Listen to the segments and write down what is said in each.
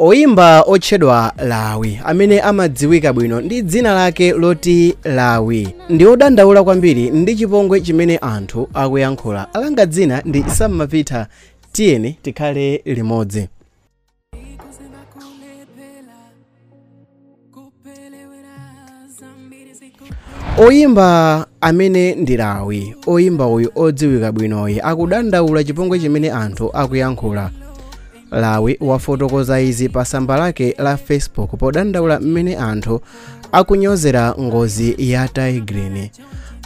Oyimba otchedwa Lawi amene amadziwika bwino ndi dzina lake loti Lawi ndi odandaula kwambiri ndi chipongwe chimene anthu akuyankhula. Langa dzina ndi Sam Mapita tiyeni tikhale limodzi. oyimba amene ndi lawi oyimba uyu odziwika bwinoyi akudandaula chipongwe chimene anthu akuyankhula lawi wafotokoza izi pa tsamba lake la facebook podandaula mmene anthu akunyozera ngozi ya tay grin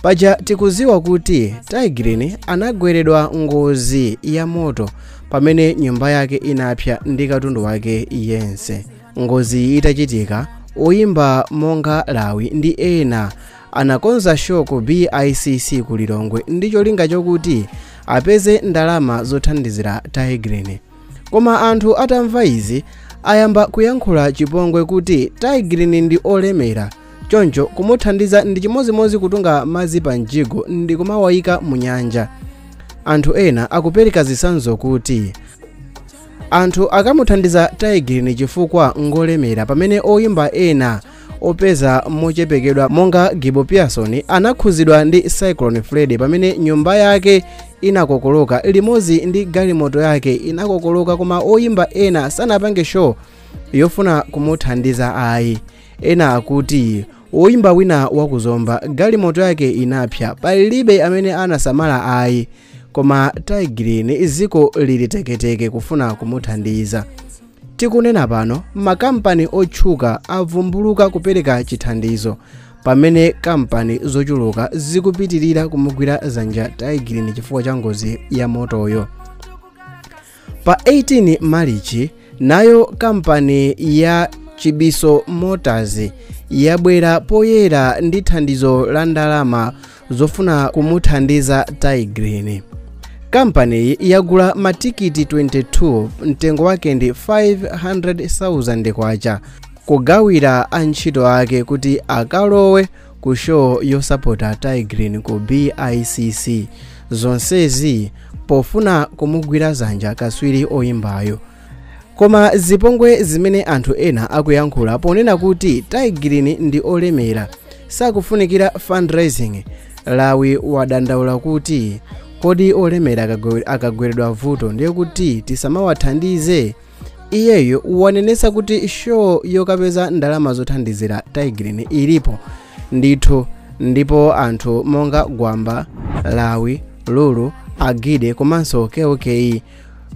paja tikuziwa kuti tay grin anagweredwa ngozi ya moto pamene nyumba yake inapsa ndi katundu wake yense Ngoziyi itachitika, oyimba monga Lawi ndi ena anakonza show ku BICC ku Lilongwe ndi cholinga chokuti apeze ndalama zothandizira Tay Grin. Koma anthu atamva izi ayamba kuyankhula chipongwe kuti Tay Grin ndi olemera choncho kumuthandiza ndi chimodzimodzi kutunga madzi pa mjigo ndi kumawayika mu nyanja. Anthu ena akupereka zitsanzo kuti anthu akamuthandiza tay grin chifukwa ngolemera pamene oyimba ena opeza mochepekedwa monga gibo pearson anakhuzidwa ndi cyclone freddy pamene nyumba yake inakokoloka limodzi ndi galimoto yake inakokoloka koma oyimba ena sanapange show yofuna kumuthandiza ayi ena akuti oyimba wina wakuzomba galimoto yake inapsa palibe amene anasamala ayi koma tay grin ziko lili teketeke kufuna kumuthandiza tikunena pano makampani otchuka avumbuluka kupereka chithandizo pamene kampani zochuluka zikupitirira kumugwira zanja tay grin chifukwa cha ngozi ya motoyo Pa 18 Malichi, nayo kampani ya Chibiso Motors yabwera poyera ndi thandizo la ndalama zofuna kumuthandiza Tay Grin. Kampaniyi yagula matikiti 22 mtengo wake ndi 500,000 kwacha kugawira antchito ake kuti akalowe ku show yosapota tay grin ku bicc zonsezi pofuna kumugwira zanja kaswiri oyimbayo koma zipongwe zimene anthu ena akuyankhula ponena kuti tay grin ndi olemera sakufunikira fundraising lawi wadandaula kuti kodi olemera akagweredwa vuto ndiye kuti tisamawathandize iyeyo wanenetsa kuti show yokapeza ndalama zothandizira Tay Grin ilipo ndithu ndipo anthu monga gwamba lawi lulu Onjide komanso Kell Kay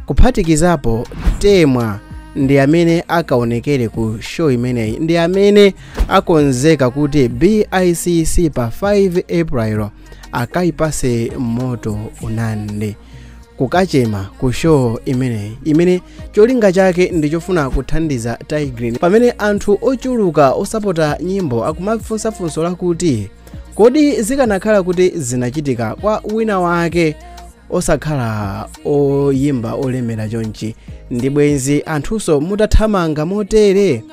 kuphatikizapo temwa ndi amene akaonekere ku show imeneyi ndi amene akonzeka kuti bicc pa 5 april akayatse moto unande kukachema ku show imeneyi imene cholinga chake ndi chofuna kuthandiza Tay Grin pamene anthu ochuluka osapota nyimbo akumafunsa funso lakuti kodi zikanakhala kuti zinachitika kwa wina wake osakhala oyimba olemera chonchi ndi bwenzi anthunso mutathamanga motere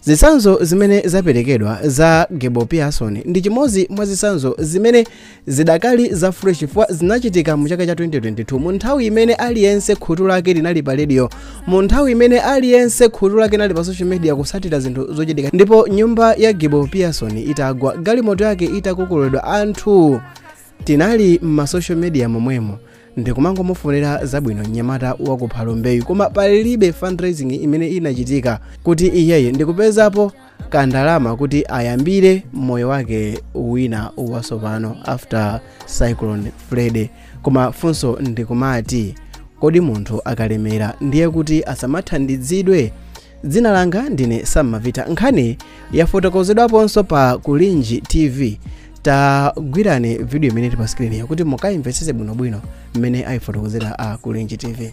zitsanzo zimene zaperekedwa za Giboh Pearson ndi chimodzi mwa zitsanzo zimene zidakali za fresh chifukwa zinachitika mu chaka cha 2022 mu nthawi imene aliyense khutu lake linali pa radio mu nthawi imene aliyense khutu lake linali pa social media kutsatira zinthu zochitika ndipo nyumba ya Giboh Pearson itagwa galimoto yake itakokololedwa anthu tinali m'ma social media momwemo ndikumangomufunira zabwino mnyamata wa ku phalombeyu koma palibe fundraising imene inachitika kuti iyeyu ndikupezapo kandalama kuti ayambire moyo wake wina watsopano after cyclone freddy koma funso ndikumati kodi munthu akalemera ndiye kuti asamathandizidwe dzina langa ndine sammavita nkhaniyi yafotokozedwaponso pa kulinji tv tagwirani vidiyo imene ili pa skriniyo kuti mukaimvetsetse bwinobwino mmene ayifotokozera a kulinji tv